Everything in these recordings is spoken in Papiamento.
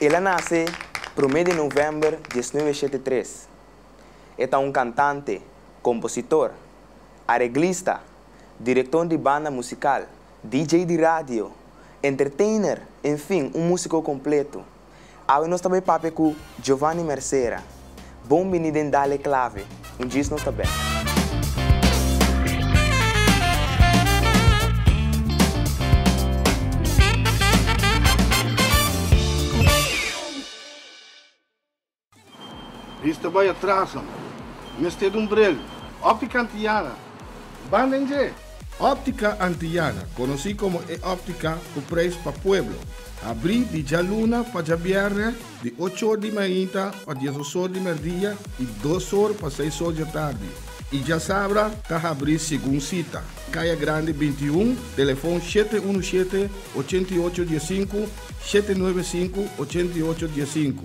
El a nace prome de november diesnuebe shete tres. E ta un cantante, compositor, areglista direkton di banda musikal, DJ di radio, entertainer, enfin un musiko kompletu. Awe nos ta bai papia ku Giovanni Mercera. Bon bini den Dale Clave, un djis nos ta bek. Bis ta bai atras amo. Mester dun brel. Optica Antillana, banda en dje! Optica Antillana, conoci como e optica cu prijs pa pueblo, abri di djaluna pa djabièrnè di ocho or di mainta pa dies osor di merdia y dos or pa seis or djatardi y djasabra ta habri segun cita, Caya Grande binti i un, telefon shete unu shete, ochenta i ocho dies sinku, shete nuebe sinku, ochenta i ocho dies sinku.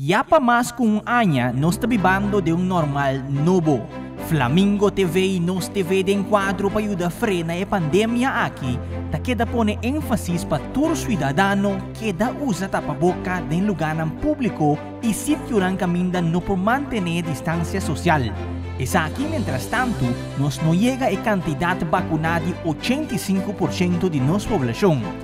Ya pa mas ku un aña nos ta bibando den un normal nobo. Flamingo TV i Nos TV den kuadro pa yuda frena e pandemia aki ta keda pone énfasis pa tur siudadano keda usa tapaboka den lugánan públiko i sitionan kaminda no por mantené distansia sosial. Esaki mentrastantu nos no yega e kantidat bakuná di ochenta i sinku por ciento di nos poblashon.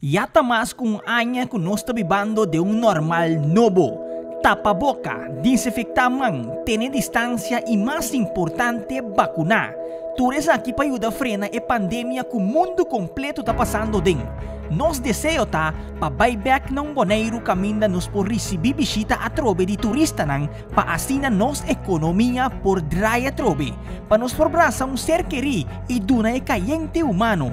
Ya ta mas ku un aña ku nos ta bibando den un normal nobo. Tapa boka, dinsinfektá man, tene distansia i mas importante, bakuná. Tur esaki pa yuda frena e pandemia ku mundu kompletu ta pasando den. Nos deseo ta pa bai bèk na un Boneiru kaminda nos por risibí bishita atrobe di turistanan pa asina nos ekonomia por drai atrobe, pa nos por brasa un ser kerí i duna e kayente humano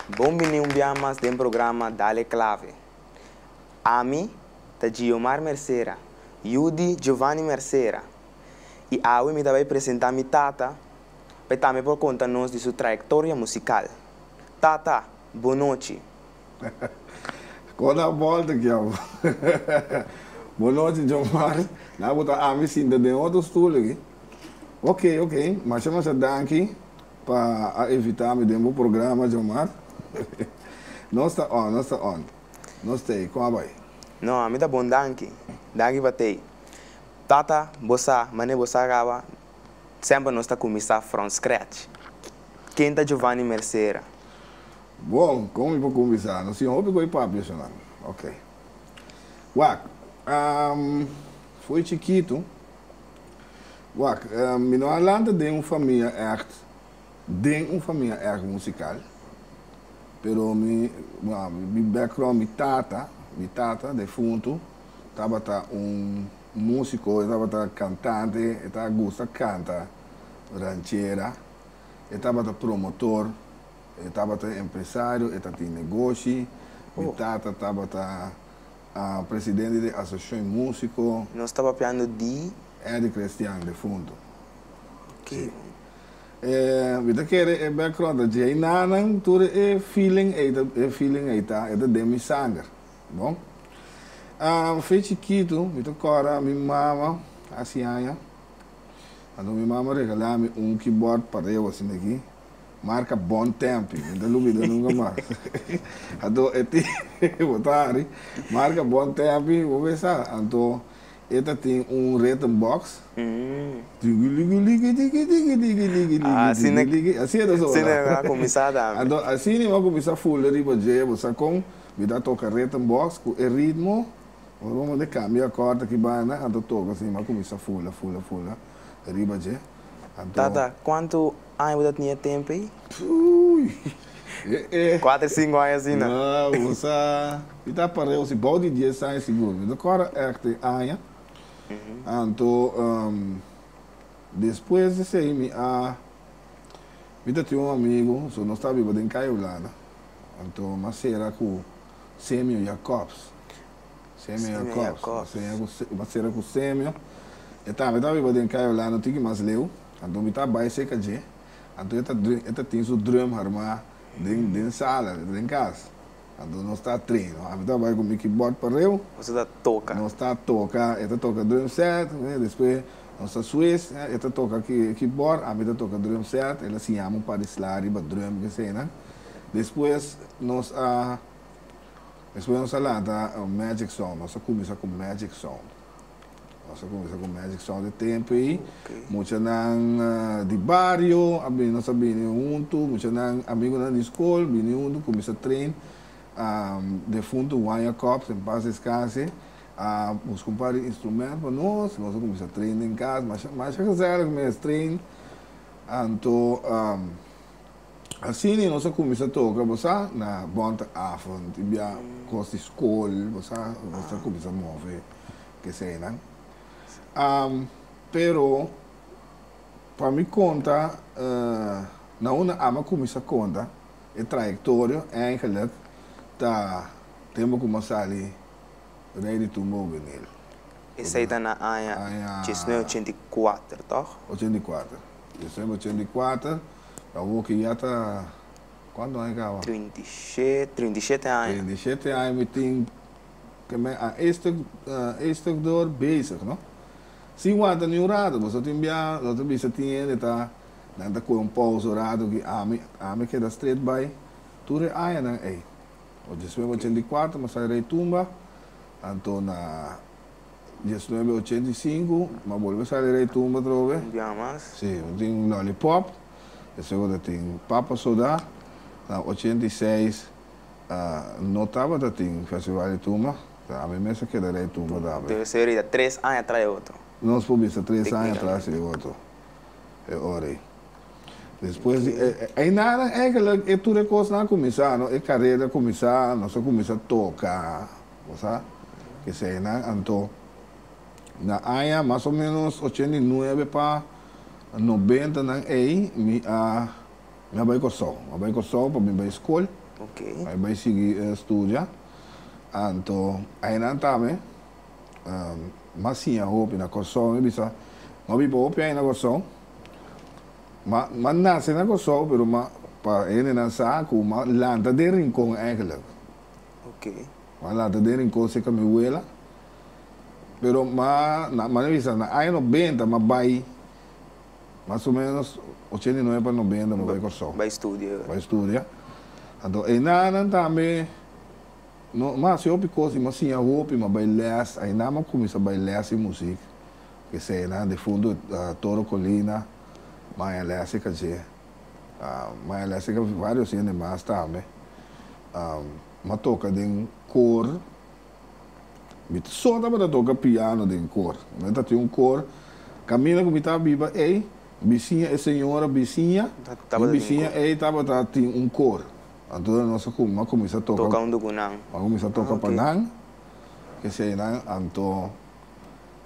Bon bini un bia mas den programa Dale Clave. Ami ta Giomar Mercera, yu di Giovanni Mercera, i awe mi ta bai presenta mi tata pa e tambe por konta nos di su trayektoria musikal. Tata, bon nochi! Kon a volta ki abo? Bon nochi Giomar, na bo ta ami sinta den otro stoel aki? Oke, oke, masha masha danki. Pa a invita mi den bo programa John Mark Nos ta on nos ta on Nos tey con a bay. No mi ta bon danki danki pa tey Tata bo sa mane bo sa raba semper nos ta cuminsa from scratch Ken ta Giovanni Mercera? Bon con mi por cuminsa nos tin un hopi coy papi eshonan ok Wak Foy chikito. Wak, mi no a lanta den un famia ègt, den un famia ègt musikal. Pero mi, wak, mi background, mi tata, mi tata defuntu tabata un músiko, e tabata kantante, e ta gusta kanta ranchera, e tabata promotor, e tabata empresario, e ta tin negoshi, mi tata tabata. A presidente di asociacion musico. Nos ta papiando di. Eric Christian, defunto. Ok. Si. E mi ta kere e background ta dje nanan tur e feeling ei ta e feeling ei ta e ta den mi sanger bo. A fe chikitu mi ta kòrda mi mama a siaña anto mi mama regala mi un kibòrd pa rewa asina aki. Marca bon tempi, no ta lubido nunga mas. Anto e tin, bo ta hari, marca bon tempi, bo besa. Anto e ta tin un written box, tiki liki liki tiki tiki tiki liki liki tiki liki, asi e ta sona. Asina e a kuminsá tambe. Anto asi niño a kuminsá fulde riba dje, bo sa kon, mi ta toka written box ku e ritmo, ora bo manda e kambio akòrt aki banda, anto toka si niño a kuminsá fula fula fula riba dje. Tata, kuantu Aña bo ta tin e tempu ei? Uy! Kuater sinku aña asina. Wow! Bo sa, mi ta pareu si bou di dies aña sigur. Mi ta kòrda èk den aña. Anto, despues di esei mi a, mi ta tin un amigu, so nos ta biba den Kaya Hulanda. Anto m'a sera ku Semio Jacobs. Semio Jacobs. M'a sera ku Semio. E tambe ta biba den Kaya Hulanda, un tiki mas leu. Anto mi ta bai cerca dje. Anto e ta drum, e ta tin su drum harma den, den sala, den cas. Anto nos ta treno. Ami ta bai cu mi keyboard pareu. Nos ta toca. Nos ta toca. E ta toca drum set, eh, despues nos ta swis, eh, e ta toca ki, keyboard, ami ta toca drum set. El a siñami un par di sla riba drum cu esayinan. Despues nos a, despues nos a lanta Magic Sound. Nos a cuminsa cu Magic Sound. Nos a cuminsa cu Magic Sound di tempo'i. Muchanan di bario a bini, nos a bini huntu. Muchanan, amigunan di scol bini huntu, cuminsa train. Defunto Wanya Cops, en paz descanse, a bus cumpra di instrument pa nos. Nos a cuminsa train den cas. Masha, masha gezellig mes train. Anto, Asina nos a cuminsa toca, bo sa, na Bondavond y bia cos di school, bo sa, nos a cuminsa move keseynan. Pero pa mi conta, na un a ama cuminsa conta e trayectorio eigenlijk ta den bo como a sali Rey di Tumba Juvenil. Esey ta na aña djisnue ochenta i kuater, toch? Ochenta i kuater, djisnue ochenta i kuater. Awor ke ya ta cuanto aña caba? Trinta y shete, trinta y shete aña. Trinta y shete aña mi tin cu me a estuk, estuk door bezig, no? Si wanta ni un rato, boso tin bia, lo ta bisa tin hende ta, nan ta coge un pausa un rato aki, ami, ami a keda stret bay tur e añanan ey. Ochi despues bo cen di cuarto, bo sa rey tumba, anto na. Diesnuebe ochenta i sinku, m'a bolbe sali rei tumba atrobe. Un biaha mas. Sí, bo tin Lollipop, despues bo ta tin Papa Soda. Na ochenta i seis no tabata tin festival di tumba, ta ami mes a keda rei tumba tambe. Debe ser e ta tres aña atras e otro. Nos por bisa tres aña atras e otro, e ora ei. Despues di e, einanan, eigenlijk e tur e kosnan a kuminsá, no. E kareda a kuminsá, nos a kuminsá toka. Bo sa eseinan anto. Na aña mas o ménos ochenta i nuebe pa nobentanan ei mi a mi a bai Kòrsou. Mi a bai Kòrsou pa mi bai skol, pa mi bai sigui studia. Anto ainan ta mi mas siña hopi na Kòrsou. Mi bisa mi a biba hopi aña na Kòrsou. Mi a mi a nase na Kòrsou pero mi a pa hendenan sa ku mi a lanta den rinkon, èiklèk. M'a lanta den rincon cerca mi huela, pero m'a na m'a bisa na aña noventa m'a bay mas o menos ochenta y nuebe pa noventa m'a bay Corsou bay studia, anto enanan tambe no m'a haci hopi cos y m'a siña hopi, m'a bay les ayina m'a cuminsa bay les di music, esei nan difunto Toro Colina m'a haña les cerca dje. ma el a hasi vários hende mas tambe, mi a toka den koor, mi so tabata toka piano den koor, mi no ta tin un koor, kaminda ku mi ta biba ei, bisiña e señora bisiña, mi bisiña ei tabata tin un koor, anto nos a mi a kuminsá toka, Toka huntu ku nan. mi a kuminsá toka pa nan, p'esei nan anto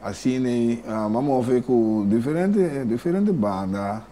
asina mi a move ku diferente diferente banda.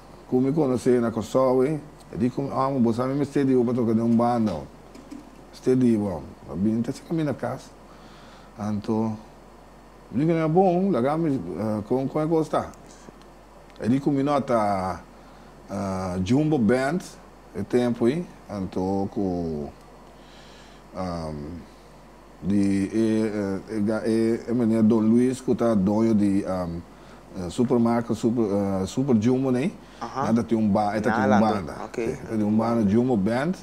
Ku mi konos'é na Kòrsou ei, e di ku mi, Òmi, bo sa mi mester di bo pa toka den un banda, òmi. Mester di bo, òmi. Bo bini ta cheka mi na kas. Anto, mi bini na bo, òmi, laga mi, kon, kon e kos ta? E di ku mi, No, ta Jumbo Band e tempu ei, anto ku. Di e e meneer Don Luis cu ta doño di supermarket super super jumbo ney nan ta tin un banda e ta tin un banda si ta tin un banda jumbo band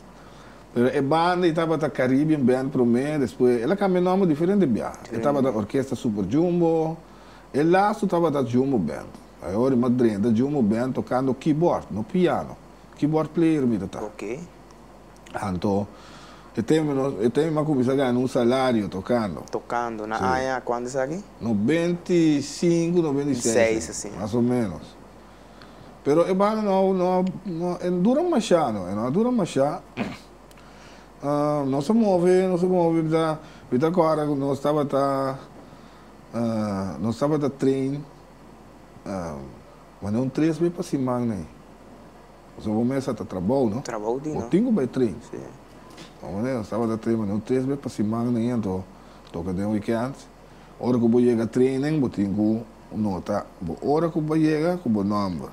pero e banda e tabata Caribbean band prome despues el a cambia nomber diferente bia e tabata orkesta super jumbo e lastu tabata jumbo band a e ora mas drenta jumbo band tocando keyboard no piano keyboard player mi ta ta. Anto, e termino, e termino a cuminsa gana un salario tocando. Tocando, na aña cuanto esaki? Noventa y cinco, noventa y seis, mas o menos. Pero e banda no, no, no, e no dura masha, no, e no a dura masha. nos a move, nos a move, mi ta, mi ta acorda cu nos tabata, nos tabata train, mane un tres be pa siman, nee. Nos abo mester ta trabou, no? Trabou di no. Bo tin ku bai trin. Si. Bo manera, tabata trin manera un tres be pa siman den hende o toke den wikènt. Ora ku bo yega treinen, bo tin ku nota bo ora ku bai yega ku bo nòmber.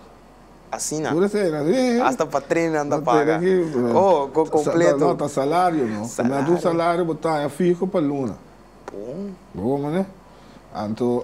Asina? Puru esei, no? Si. Asta pa treinen nan ta paga. No tene ki. Oh, ku kompletu. No, ta salario, no. Salario. Primer dos salario bo taña fiho pa luna. Bon. Bo abo manera. Anto,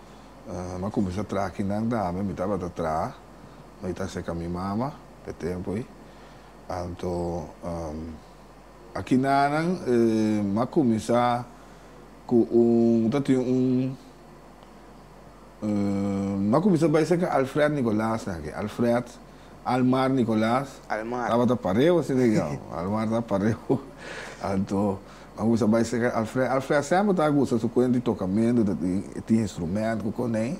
Mi a cuminsa traha kinan dame mi tabata traha, ma i ta seca mi mama p'e tempo ei. Anto a kinanan mi a cuminsa cu un, mi ta tin un, mi a cuminsa bay seca Alfred Nicolas nan aki. Alfred. Almar Nicolas Almar. tabata pareu a Senegal. Almar ta pareu. Anto a gusta bai seca Alfred. Alfred a semper ta gusta su cuent di tocamento, ta tin, e tin instrumento cu con ei,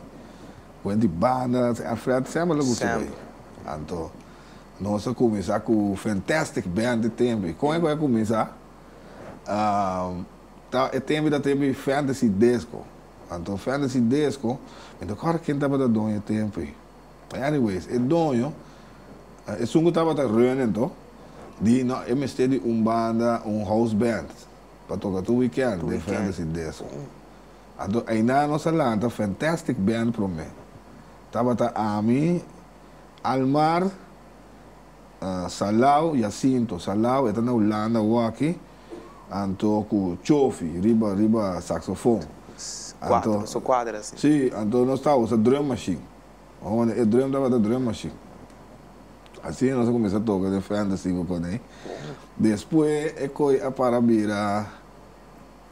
cuent di banda. Alfred semper lo gusta bay. Semper. Anto nos a cuminsa cu Fantastic Band e tempi. Con ecora cuminsa? Ahm, ta, e tempi ta tempi Fantasy Disco. Anto Fantasy Disco, mi ta cora ken tabata doño e tempi. Anyways, e doño, esun ku tabata reunen to, di no, e mester di un banda, un house band, pa toka tur wikènt den Ferndes i Deso. Anto eindá nos a lanta Fantastic Band promé. Tabata ami, Almar, Salau, Jacinto, Salau, e ta na Hulanda awòkí, anto ku Chofi riba riba saksofon. Anto, sí, anto nos ta usa drum machine. Omo e drem tabata drem machine. Asina nos a cuminsa toca den frente sigue cone. Despues e coy a para bira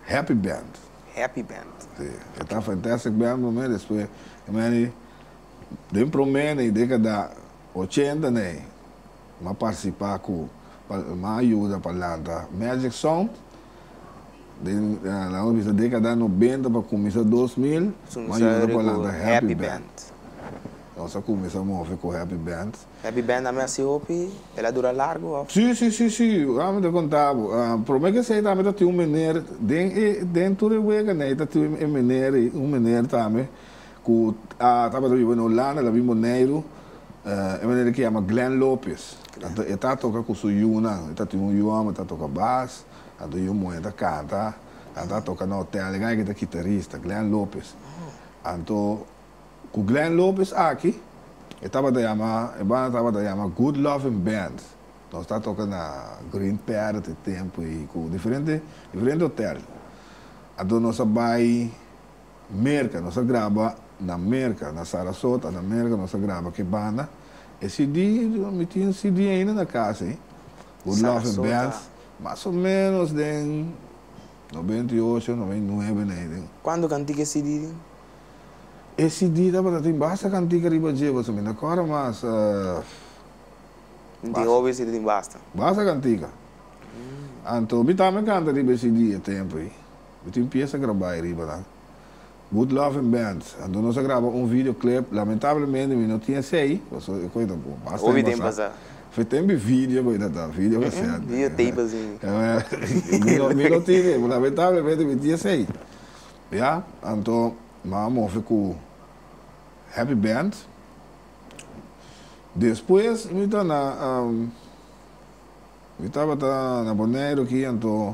Happy Band. Happy Band. Si. E ta Fantastic Band prome, despues e mene den prome ne, dekada ochenta ne. m'a participá cu pa m'a ayuda pa lanta Magic Sound den la nos bisa década noventa pa cuminsá dos mil m'a ayuda pa lanta Happy Band nos a cuminsá move cu Happy Band. Happy Band a mesti hopi el a dura largo of? Sí sí sí sí a mi ta contá bo prome que esey tambe ta tin un meneer den e den Turehuega ne ta tin e meneer un meneer tambe ku a tabata biba na Hulanda, ta bin Boneiru, e manera ke yama Glenn Lopes. E ta toka ku su yunan, e ta tin un yu hòmber ta toka bas, a tin un yu muhé ta kanta, a ta toka na hotèl. E gana ke ta kitarista, Glenn Lopes. Anto ku Glenn Lopes aki, e tabata yama, e banda tabata yama Good Lovin' Band. Nos ta toka na Green Parrot e tempu ei, ku diferente diferente hotèl. Anto nos a bai Merca nos a graba na Merca na Sarasota na Merca nos a graba ke banda e CD mi tin CD ainda na casa ey Good Love and Bells mas o menos den noventa y ocho noventa y nuebe na ey den. Cuanto cantica e CD tin? E CD tabata tin basta cantica riba dje boso mi na cora mas Tin tin hopi e CD tin basta. Basta cantica anto mi tambe canta riba e CD e tempo ey. Bo tin pies a grabá ei riba nan? Good Love and Band, Anto nos a graba un video clip, lamentablemente mi no tin esei, paso e koe ta por basta den basá. Fe ta enbi video koe ta ta, video cassette. Video tape así. Mi no tin ei, lamentablemente mi tin esei. Ya, anto nan a move ku Happy Band. Despues mi ta na, mi tabata na Boneiru aki anto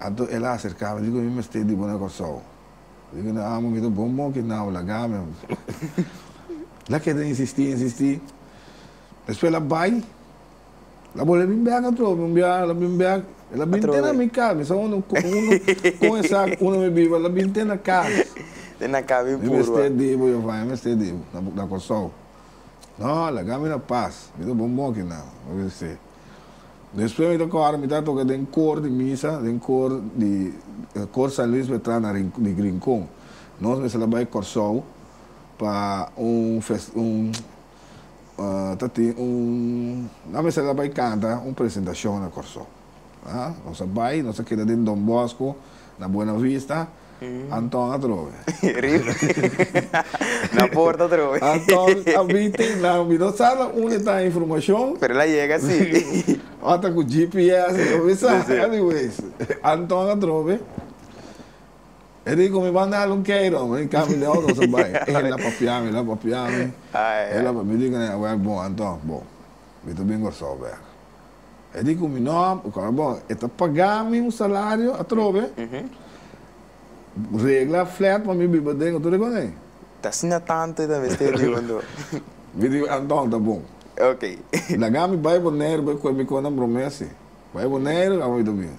Anto el a aserká mi, diku, Mi mester di bo na Kòrsou. Diku, No amo, mi ta bon bon ki nau, lagá mi. El a keda insistí, insistí. Despues el a bai, el a bolbe bin bèk atrò, mi un bia, el a bin bèk, el a bin te na mi kas. Mi sa unda unu kon esak unda mi biba, el a bin te na kas. Te na kas bin puru. Mi mester di bo, Jeova, mi mester di bo na Kòrsou. No, lagá mi na pas, mi ta bon bon ki nau, mi a bis'é. Despues mi ta kòrda mi ta toka den kor di misa, den kor di kor San Luis pa e tras na di Rincon. Nos mester la bai Kòrsou pa un fest un ta tin un nan mester la bai kanta un presentashon na Kòrsou. Nos a bai nos a keda den Don Bosco na Buenavista. Anton atrobe. Rip. Na porta atrobe. Anton a bin tin nan bin no sa nan unde ta e informacion. Pero el a yega si. Ora ta cu GPS e lo bisa. Anyways, Anton atrobe. E di cu mi banda algun keiran, mi cambia di auto so bay. El a papia mi, el a papia mi. Mi di cu nan, Aweh, bon Anton, bon. mi ta bin Kòrsou bèk. E di ku mi, No, bo kòrda bo, e ta pagá mi un salario atrobe, regla flèt pa mi biba den otro rikon ei. Ta asina tantu e ta mester di hondo. Mi di, Anton, ta bon. Laga mi bai Boneiru bai kue mi kontan bromesi. Bai Boneiru, aba mi ta bin.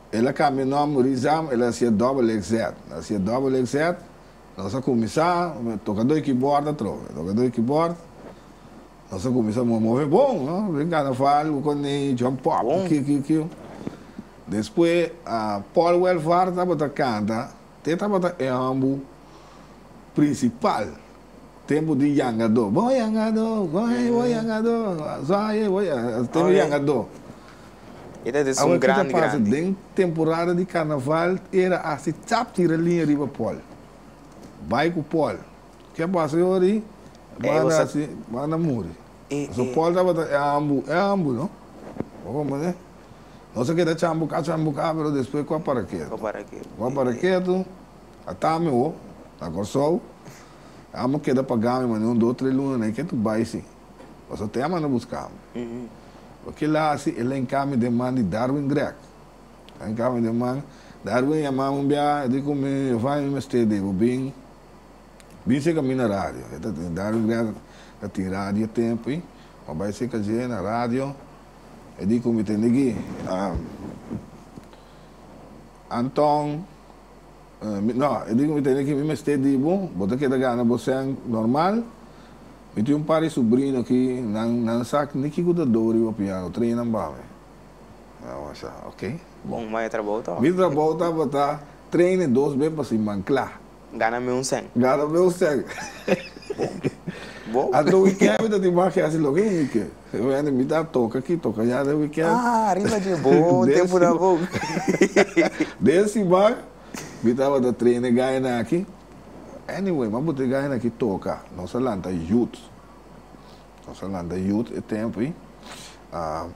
El a cambia nomber Rizam, el a hacia Double XZ. El a hacia Double XZ, nos a cuminsa toca doi keyboard atrobe. Toca doi keyboard, nos a cuminsa move, move bon, no? Bring Carnaval, we con Ney, John Pop, kiu, kiu, kiu. Despues, Paul Welvaart tabata canta. Te tabata e hòmber prinsipal tempu di yangadó. Bo yangadó, wòhei bo yangadó, zòhei bo yangadó, tempu di yangadó. Awe ki ta pasa den temporada di karnaval, era hasi tap tira liña riba pòl, bai ku pòl. Ke a pasa yori? Banda si, banda muri. Pasobra pòl tabata e hòmber, e hòmber no. Nos a keda chan buka chan buka pero despues cu a para ketu. Cu a para ketu. Cu a para ketu a ta mi ho na Corsou amo keda paga mi mane un dos tres luna na e ketu bay si nos a te a manda buska mi. Cu kill a hasi el a hinca mi den man di Darwin Grech el a hinca mi den man Darwin a yama mi un bia a dico mi Evain mi mester di bo bin bin seca mi na radio Darwin Grech ta tin radio e tempo y mi a bay seca dje na radio. E di ku mi tin di gui. Anton, No, e di ku mi tin di ki mi mester di bo, bo ta keda gana bo sen normal. Mi tin un par di subrino aki, nan nan sa ni kiko ta do riba piano, trae nan pa mi. Nan mester sa, ok. Bon, ma e trabou tabata? Mi trabou tabata trae e dos be pa siman kla. Gana mi un sen. Gana mi un sen. Bo. Anto weekend mi ta tin maki hasi loke mi ke. Mi wende a invita toka aki, toka ya den weekend. Ah, ariba dje bo tempunan bon. Den siman mi tabata train e gainan aki. Anyway, mi a bota e gainan aki toka. Nos a lanta youth. Nos a lanta youth e tempu ei.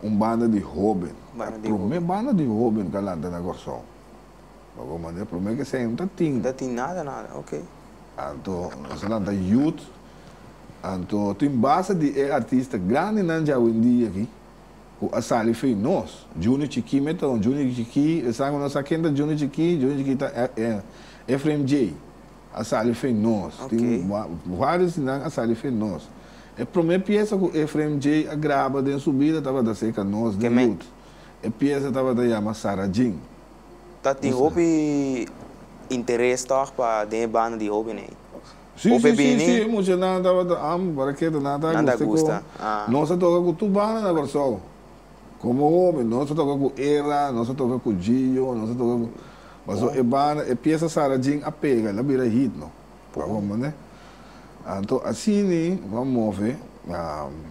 Un banda di hoben. Banda di hoben. E prome banda di hoben ku a lanta na Kòrsou. Pa bo manera prome ke sey no ta tin. Ta tin nada nada okay. Anto nos a lanta youth anto tin base di e artista grandi nan dja wendí aki ku a sali fey nos Junior Chikí me ta un Junior Chikí esan ku no sa ken ta Junior Chikí Junior Chikí ta Efraim Jay a sali fey nos tin varios di nan a sali fey nos e prome piesa ku Efraim Jay a graba den su bida tabata Seca Nos di youth. E pieza tabata yama Sarah Jean. Ta tin hopi interes tòg pa den e banda di hóbennan. Sí, sí, sí, sí, e muchanan tabata amo pa raqueta, nan ta guste con nos a toca cu tur banda na Kòrsou. Como hóben, nos a toca cu Era, nos a toca cu Gio, nos a toca cu. Paso e banda, e pieza Sarah Jean a pega, el a bira hit, no. pa home ne. Anto asini bo a move.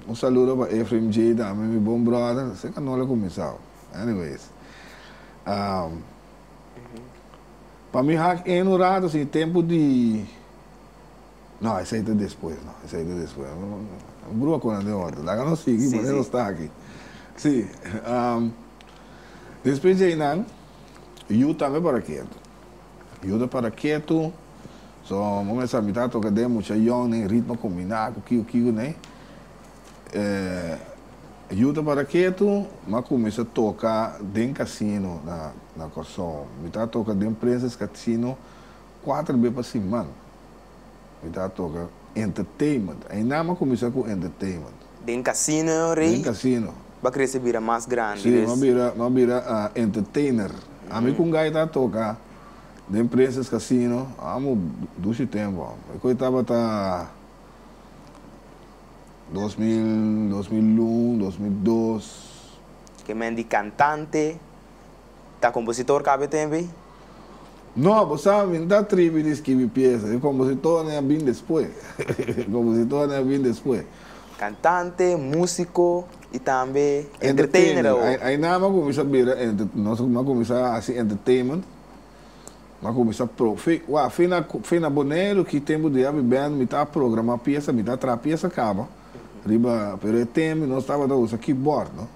Un saludo pa Efraim J. tambe mi bon brother, se ka no lo kuminsao. Anyways, pa mi hak in un rato si tempu di, no esei ta despues no, esei ta despues no, Bruha konda den otro, laga nos sigui manera nos ta aki. Si, despues di einan yu tambe para kiet. Yuda para ketu. So bo mester a mita toka den mucha yon den ritmo kombina ku kiko kiko nei. Yuda para ketu ma kuminsa toka den kasino na Kòrsou. Mita toka den Prinses Kasino kuater be pa siman. Mi ta toca entertainment. Ainama cuminsa cu entertainment. Den casino rey. Den casino. Ba crece bira mas grandi. Si, no bira, no bira entertainer. Ami cu un guy ta toca den Princess Casino, amo dushi tempo amo. E coi tabata dos mil, dos mil un, dos mil dos. Ke men di cantante, Ta kompositor kab'e tem'e? No, bo sa, mi no ta atribi di skibi piesa. E kompositornan a bin despues. E kompositornan a bin despues. Kantante, musiko i tambe entertainer awo. Entertainer. Ai nan m'a kuminsá bira entertainer. No esaki m'a kuminsá hasi entertainment. M'a kuminsá pro. Fi, wak, fi na, fi na Boneiru ki tempu di habi band mi ta programá piesa, mi ta traha piesa kaba riba. Pero e tem nos tabata usa keyboard, no.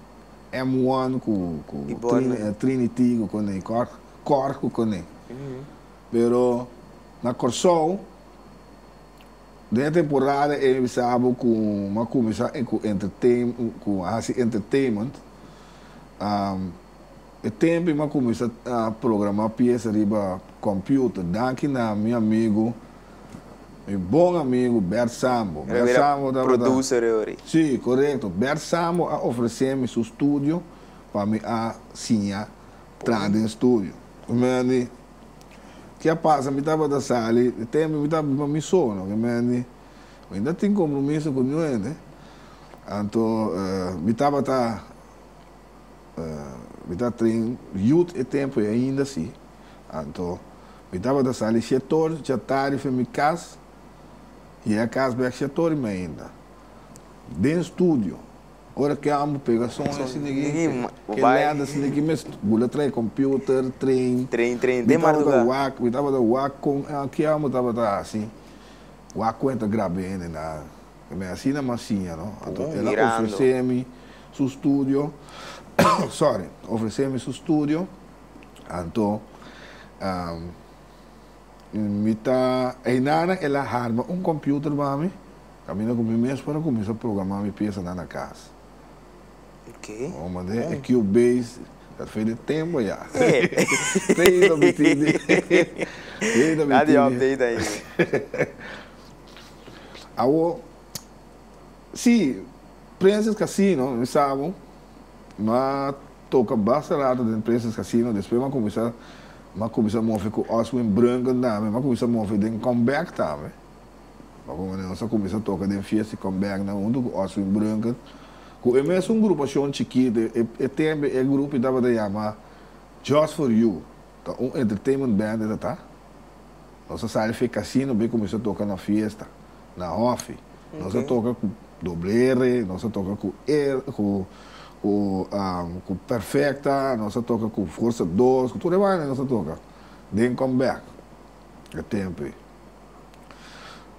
M one ku trinity ku kone i kòr kòr ku kone pero na Kòrsou den e temporada ei mi sa bo ku mi a kuminsá ku entertain ku a hasi entertainment. E tempi m'a cuminsa a programa piesa riba computer, danki na mi amigo, mi bon amigo Bert Sambo. Bert Sambo tabata. Sí, corecto. Bert Sambo a ofrece mi su studio pa mi a siña traha den studio. Mi mendi, ke a pasa? Mi tabata sali, e tempi mi tabata biba mi so no. Mi mendi, mi no tin compromiso cu niun hende, anto mi tabata. mi ta trin yut e tempu ei ainda si. Anto mi tabata sali shetor dja tardi fen mi kas i e kas bek shetor di mi ainda. Den studio, ora ke ambu pega son e sinigi ke lèda sinigi ki mes bula trae kompiuter, tren, mi tabata wak, mi tabata wak kon ke ambu tabata hasi, wak kon e ta grab'é, ni na. Mi asina mas siña, no. Anto el a ofresé mi su studio, sorry, ofresé mi su studio, anto mi ta, einanan el a harma un computer pa mi, caminda cu mi mes por a cuminsa programá mi piesanan na cas. Un manera e Cubase ta fei den tempo ya. Tei lo mi tin di. Tei lo mi tin di. Nada di update ainda. Awor, sí, Princess Casino, mi sa bo, m'a toka basta rato den Princess Casino, despues m'a cuminsa, m'a cuminsa move cu Oswin Brunken tambe, m'a cuminsa move den Come Back tambe, pasobra nos a cuminsa toca den fiesta di Come Back nan hunto cu Oswin Brunken, cu e mesun grupacion chikito, e tempo e grupo tabata yama Just For You, ta un entertainment band e ta ta. Nos a sali fe casino pa e cuminsa toca na fiesta, na hofi. Nos a toca cu Doble R, nos a toca cu er, cu, cu, um, cu Perfecta, nos a toca cu Forza Dos, cu tur e banda nos a toca den Comeback e tempo ei.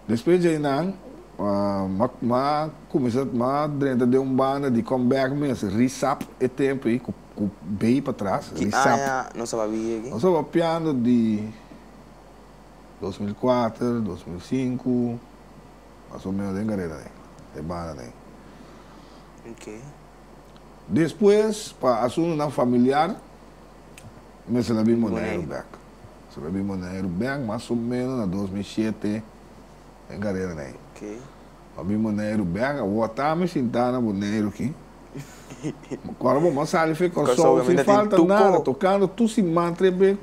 Despues djei nan, um, m'a, m'a cuminsa, m'a drenta den un banda di Comeback mes, Risap e tempo ei, cu, cu bay patras, Ki Risap. aña nos a papia aki? Nos a papiando di. dos mil kuater, dos mil sinku, mas o menos den karera dei, e banda dei. Okay. Despues, pa asuntunan familiar, mester a bin Boneiru bek. Mester a bin Boneiru bek, mas o menos na dos mil shete, den karera dei. Okay. A bin Boneiru bek, a wota mi sintá na Boneiru ki. Kor bo, bo a sali fe Kòrsou, sin falta nada, tokando tur siman tres be.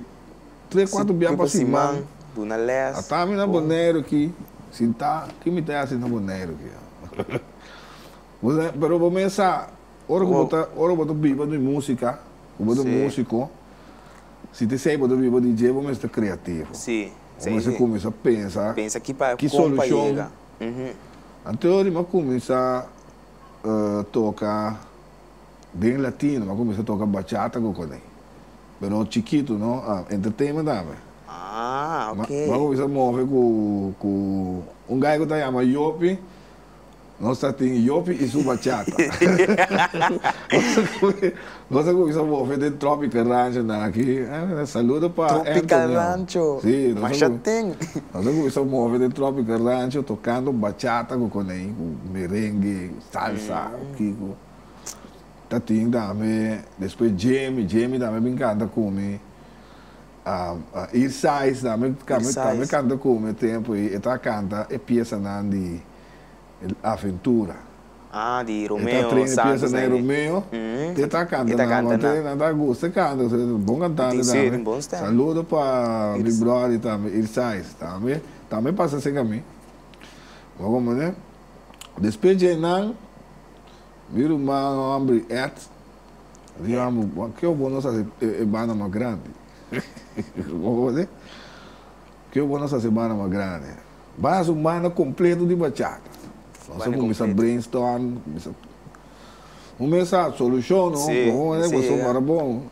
tres cuatro bia pa siman ata mi na Boneiru aki sinta ki mi ta hasi na Boneiru aki pero bo mes sa ora ku bo ta ora ku bo ta biba di musika ku bo ta musiko si ta esei bo ta biba di dje bo mes ta kreativo bo mes ta kuminsá pensa ki solushon anto di mi a kuminsá toka den latino mi a kuminsá toka bachata ku kuné. Be no chikitu no ah entertainment awe. Ah ok. Ma bo bisa mohe ku ku un gai ku ta yama Yopi no sa tin Yopi i su bachata. Bo sa ku bisa mohe den Tropical Rancho nan aki saludo pa Anthony. Tropical Rancho si masha tin. No sa ku bisa mohe den Tropical Rancho tokando bachata ku kona ei ku merengue salsa o kiko. ta tin tambe despues Jamie Jamie tambe bin canta cu mi East Sides tambe tambe canta cu mi e tempo ahí e ta canta e piesanan di Aventura Ah di Romeo Santos e ta train e piesa nan di Romeo te e ta canta nan wan te nan ta gusta e canta cu sabi bon cantante tambe saludo pa mi brody tambe East Sides tambe tambe pasa cerca mi bo como despues dje nan. Mi ruman a hombre et. Di amo, Bo ke bo nos hace e banda mas grandi? Bo hoor di? Ke bo nos hace e banda mas grandi? Bai haci un banda completo di bachata. Nos a cuminsa brainstorm, cuminsa. Bo mes sa solucion, no? Bo hoor di? Pasobra ora bo,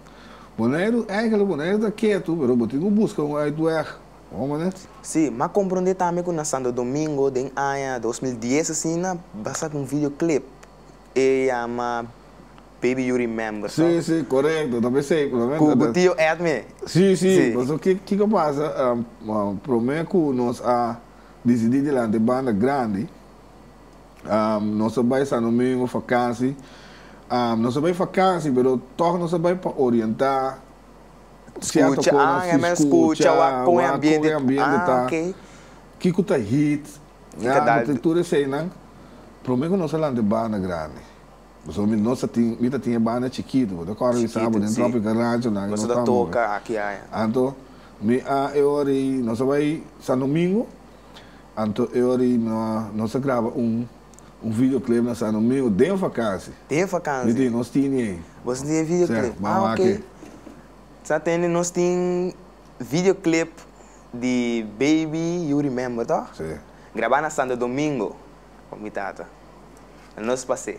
bo no hay, eigenlijk bo no hay ta keto, pero bo tin cu busca un uitweg. Hombres. Sí, m'a comprende tambe cu na Santo Domingo den aña dos mil dies asina ba saca un video clip e yama Baby You Remember, Sí, toch? sí, corecto, ta p'esey cu lo men ta. Cu tio Edme. Sí, sí, Sí. paso ki kico pasa, prome cu nos a dicidi dilanti banda grandi, nos a bay Santo Domingo fakansi, nos a bay fakansi pero toch nos a bay pa orienta. Scucha ah e men scucha wak con e ambiente ah ok. Kico ta hit ah tur esey nan prome cu nos a lanta e banda grandi pasobra mi nos ta tin mi ta tin e banda chikito bo ta corda mi sabo den tropica rancho nan nos ta moe anto mi ah e ora y nos a bay sandomingo anto e ora y nos a graba un. Un videoclip na San Domingo den vakansi. Den vakansi. Mi tin, nos tin di ei. Bo tin e videoclip. Sè, m'a wak e. Sa tende nos tin videoclip di Baby You Remember, tò? Sè. Grabá na Santo Domingo pa mi tata. Na nos pas'é.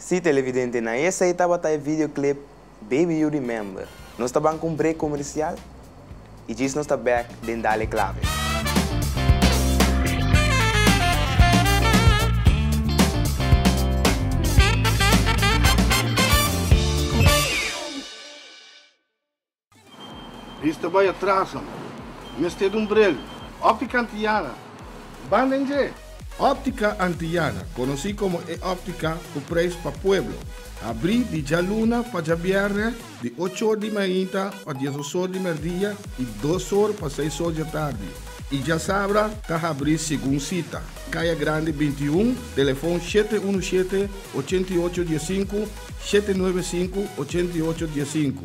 Sí televidente, na esei tabata e videoclip Baby You Remember. Nos ta ban cu un break comercial y djis nos ta back den Dale Clave. Bis ta bai atras amo. Mester dun brel. Optica Antillana, banda en dje! Optica Antillana, conoci como e optica cu prijs pa pueblo, abri di djaluna pa djabièrnè di ochor di mainta pa diesosor di merdia y dosor pa seisor dje tardi y djasabra ta habri segun cita, Caya Grande binti y un, telefon shete unu shete, ochenta y ocho die sinku, shete nuebe sinku, ochenta y ocho die sinku.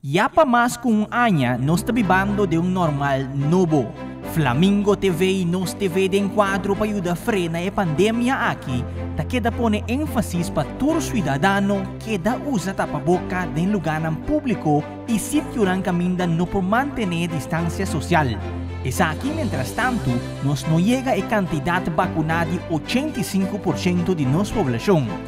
Ya pa mas ku un aña nos ta bibando den un normal nobo. Flamingo TV i Nos TV den kuadro pa yuda frena e pandemia aki ta keda pone énfasis pa tur siudadano keda usa tapaboka den lugánan públiko i sitionan kaminda no por mantené distansia sosial. Esaki mientrastantu nos no yega e kantidat bakuná di ochenta i sinku por ciento di nos poblashon.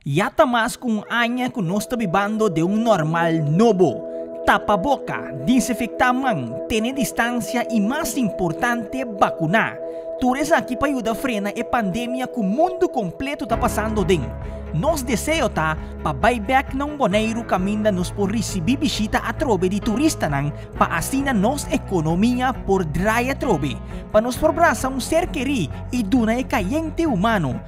Ya ta mas ku un aña ku nos ta bibando den un normal nobo. Tapa boka, disinfektá man, tene distansia i mas importante, bakuná. Tur esaki pa yuda frena e pandemia ku mundu kompletu ta pasando den. Nos deseo ta pa bai bèk na un Boneiru kaminda nos por risibí bishita atrobe di turistanan pa asina nos ekonomia por drai atrobe, pa nos por brasa un ser kerí i duna e kayente humano,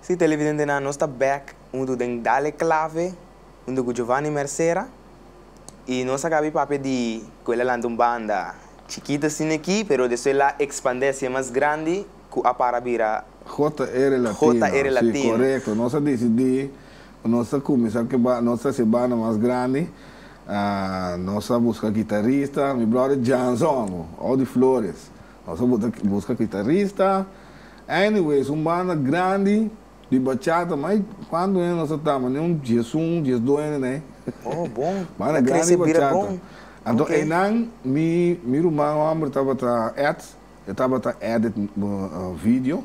Si, televidentenan, nos ta bek huntu den Dale Clave, huntu ku Giovanni Mercera, i nos a kabi papia di ku el a lanta un banda chikit asin aki, pero despues el a ekspandé siña mas grandi ku a para bira JR Latino, si, korekto. Nos a disidí ku nos ta kuminsá ku e banda, nos ta hasi e banda mas grandi. Nos a buska kitarista, mi bròder Janson, ou di Flores. Nos a buska kitarista. Anyway es un banda grandi di bachata ma ey cuanto hende nos a ta ma ni un dies un dies dos hende na ey banda grandi di bachata anto eynan mi mi ruman homber tabata Ed e tabata edit video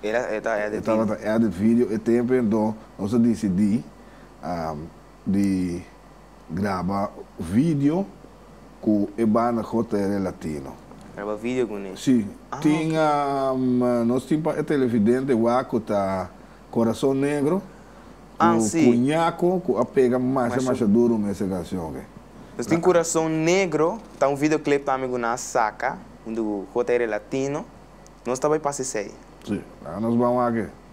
e tabata edit video e temponan nos a dicidi di Graba video cu e banda JR Latino. Graba video cu ne. Si, tin a, nos tin pa e televidente wak cu ta Corazon Negro, cu Cuñaco cu a pega masha masha duro me ese cancion oke. Nos tin Corazon Negro, ta un video clip tambe cu nan a saca junto cu JR Latino, nos ta bay pasa esey. Si, nos ba wak e.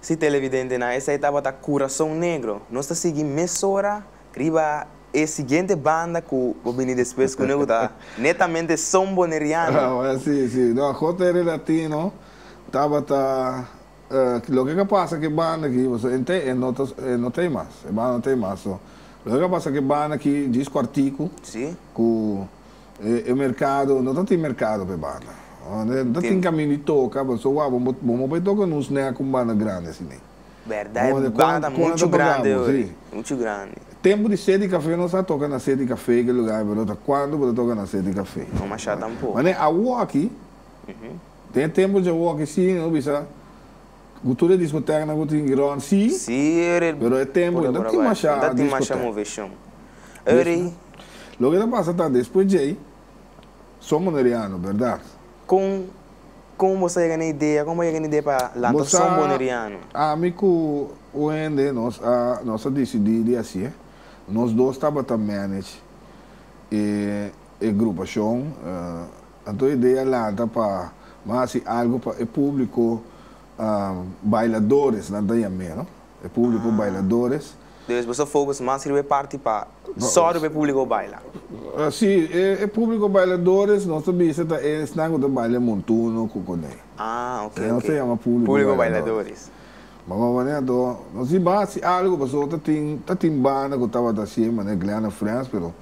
Si televidentenan esei tabata kurason negro, nos ta sigui mesora riba e siguiente banda ku bo bini despues ku noe ku ta netamente son boneriano. Awor si, si. No, J. R. Latino tabata loke ka pasa ke banda aki, pasobra e nt'e e no ta e no ta ei mas, e banda no ta ei mas. So, loke ka pasa ke banda aki djis kuartiku ku. E merkado, no ta tin merkado p'e banda. No ta tin kaminda di toka, pasobra wak, bo bo bo bai toka nos nèk ku un banda grandi asina. Bèrdat, e banda ta muchu grandi ora, muchu grandi. Tempu di sedi kafé nos a toka na sedi kafé ku e lugá ei, pero ta kuantu bo ta toka na sedi kafé. No masha tampoco. Mane, awoki, den e tempu dje awoki si, no bisa. Ku tur e diskotèk nan ku tin grond sí, pero e tempu i no tin mashá diskotèk. Yes no? Loke ta pasa ta despues djei son boneriano, bèrdat? Kon kon bo sa yega na idea, kon bo yega na idea pa lanta Bo sa son boneriano? ami ku un hende nos a nos a disidí di hasié. Nos dos tabata manage e e grupashon. Anto e idea lanta pa Nan hasi algu pa e publico bailadores nan ta yam'e no. E publico bailadores. Despues boso focus mas riba e parti pa sòru pa e publico baila. Si, e publico bailadores nos ta bisa ta esnan cu ta baila montuno cu cun'e. Ah, ok, ok. Nos ta yama publico bailadores. Ma mama manera anto nos diba hasi algu pasobra ta tin banda cu tabata hasi'e manera Glenna Friends pero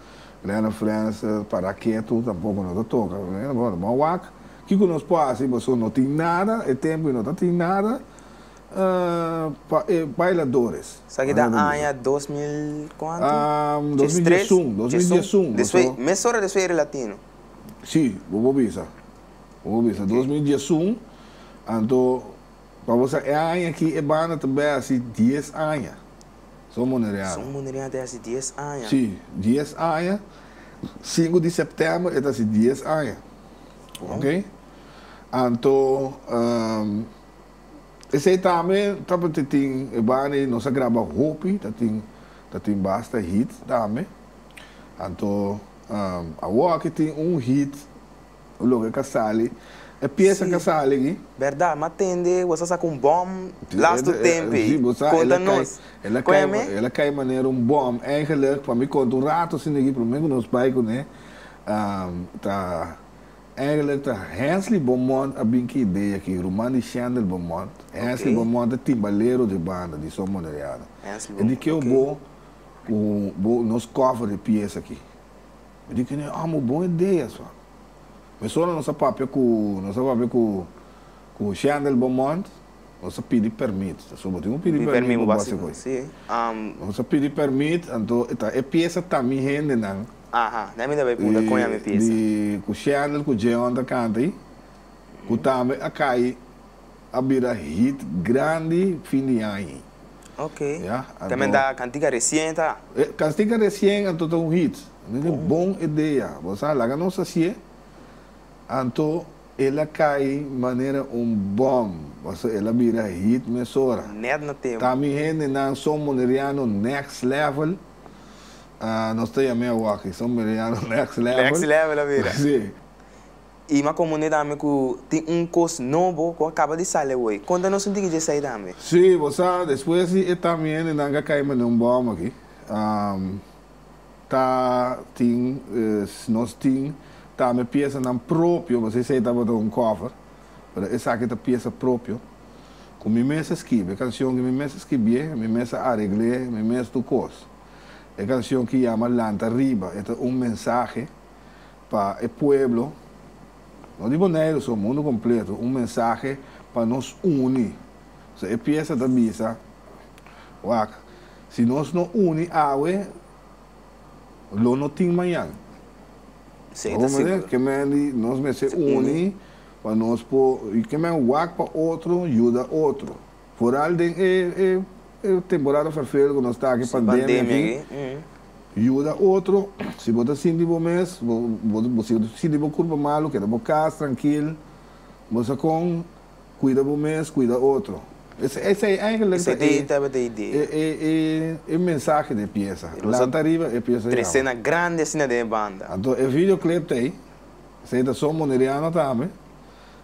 Lena Frans, Para ketu tampoko no ta toka. Bueno, bo a wak kiko nos por hasi pasobra no tin nada e tempu i no ta tin nada pa e bailadores. Esaki ta aña dos mil kuantu? Dos mil dies un, dos mil dies un. Despues, mes ora despues e ri Latino? Si, bo por bisa, bo por bisa. Dos mil dies un, anto pa bo sa e aña aki e banda ta bai hasi dies aña. Son munereada. Son munereada ta hasi dies aña. Sí, dies aña. Sinku di septèmber e ta hasi dies aña. Bon. Anto esei tambe ta por te tin e banda nos a graba hopi, ta tin ta tin basta hit tambe. Anto awor aki tin un hit. Un loke ka sali. E piesa ka sali aki. Berdad, ma tende bo sa saka un bom last to tempe. Si bo sa ela kai, ela kai, ela kai manera un bom. Eigenlijk pa mi konta un rato asina aki prome ku nos bai kuné ta eigenlijk ta Hensley Bomont a bin ku e idea aki, ruman di Shendel Bomont. Hensley Bomont e timbalero di e banda di Son Moderiano. E di keu bo ku bo nos cover e piesa aki. Mi di cu ne amo bon idea so. Mesora nos a papia cu nos a papia cu cu Shendel Beaumont nos a pidi permit. Ta supo tin un pidi permit pa base cu ey. Nos a pidi permit anto e ta e piesa ta mi hendenan. Aha, na e mi ta bay punta con ya mi piesa. Di cu Shendel cu Jeon ta canta ahi, cu tambe a cay a bira hit grandi fin di aña. Ok. Ya, anto. Te manda Cantica Recien ta? E Cantica Recien anto ta un hit. Mi di bon idea. Bo sa laga nos haci'e. Anto el a cay manera un bom. Paso el a bira hit mesora. Net na tempo. Ta mi hendenan son Boneriano Next Level. Nos ta yam'e awakiSon Boneriano Next Level. Next Level a bira. Si. I ma komo n'e dame ku tin un kos nobo ku a kaba di sali awoi? Konta nos un tiki dje esei tambe. Sí, bo sa, despues di e tami hendenan ku a kai mane un bòm aki, ta tin, nos tin tambe piesanan propio, bo sa esei tabata un kòver, pero esaki ta piesa propio ku mi mes a skibi. E kanshon ku mi mes a skibié, mi mes a aregl'é, mi mes tur kos. E kanshon ku yama Lanta Riba, e ta un mensahe. Pa e pueblo, no di Boneiru so, mundu kompletu, un mensahe pa nos uni. So e piesa ta bisa, Wak, si nos no uni awe, lo no tin mañan. Esei ta sigur. Ke men di nos mester uni pa nos por, ke men wak pa otro, yuda otro. Foral den e e temporada vervelend cu nos ta aki pandemia aki yuda otro si bo ta sinti bo mes bo bo si bo ta sinti bo curpa malo keda bo cas trankil bo sa con cuida bo mes cuida otro esey eyngelijk ta e e e e mensahe den e piesa lanta riba e piesa yama tresena grandi asina den e banda anto e video clip ta ey esey ta son Boneriano tambe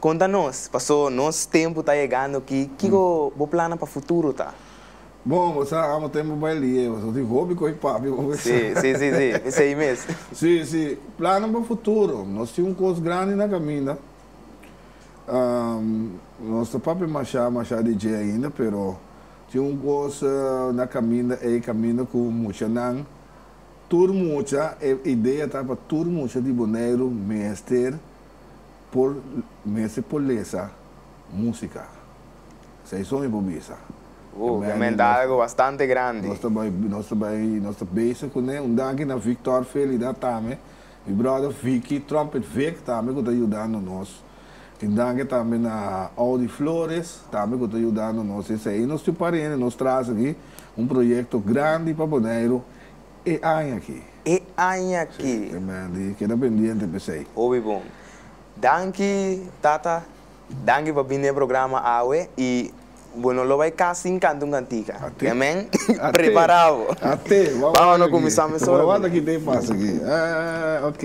Konta nos, paso nos tempu ta yegando ki, kiko bo plannan pa futuro ta? Bon, bo sa amo ten bo bail di Ewa, so tin hopi koe papi bo bisa. Sí, sí, sí, sí, esei mes. Sí, sí, plannan pa futuro. Nos tin un kos grandi na kaminda. Nos ta papia mashá, mashá di dje ainda, pero tin un kos na kaminda ei, kaminda ku muchanan, tur mucha, e idea ta pa tur mucha di Boneiru mester Por mester por lesa músika. Seison i bo bisa. Bo ta menta algo bastante grandi. Nos ta bai, nos ta bai, nos ta bese kuné. Un danki na Victor Felida tambe, mi bròder Vicky, Trumpet Vic, tambe ku ta yudando nos. Un danki tambe na Audi Flores, tambe ku ta yudando nos. Esei nos tin parende nos trasa aki un proyekto grandi pa Boneiru. E aña aki. E aña aki. Si, amen di keda pendiente p'esei. Hopi bon. Danki tata, danki pa bini e programa awe i bo no lo bai kas sin kanta un kantica. Ate. Amen. Prepara bo. Ate. Bawak aki. Bawak aki. Bawak aki te pasa aki. Aa, ok.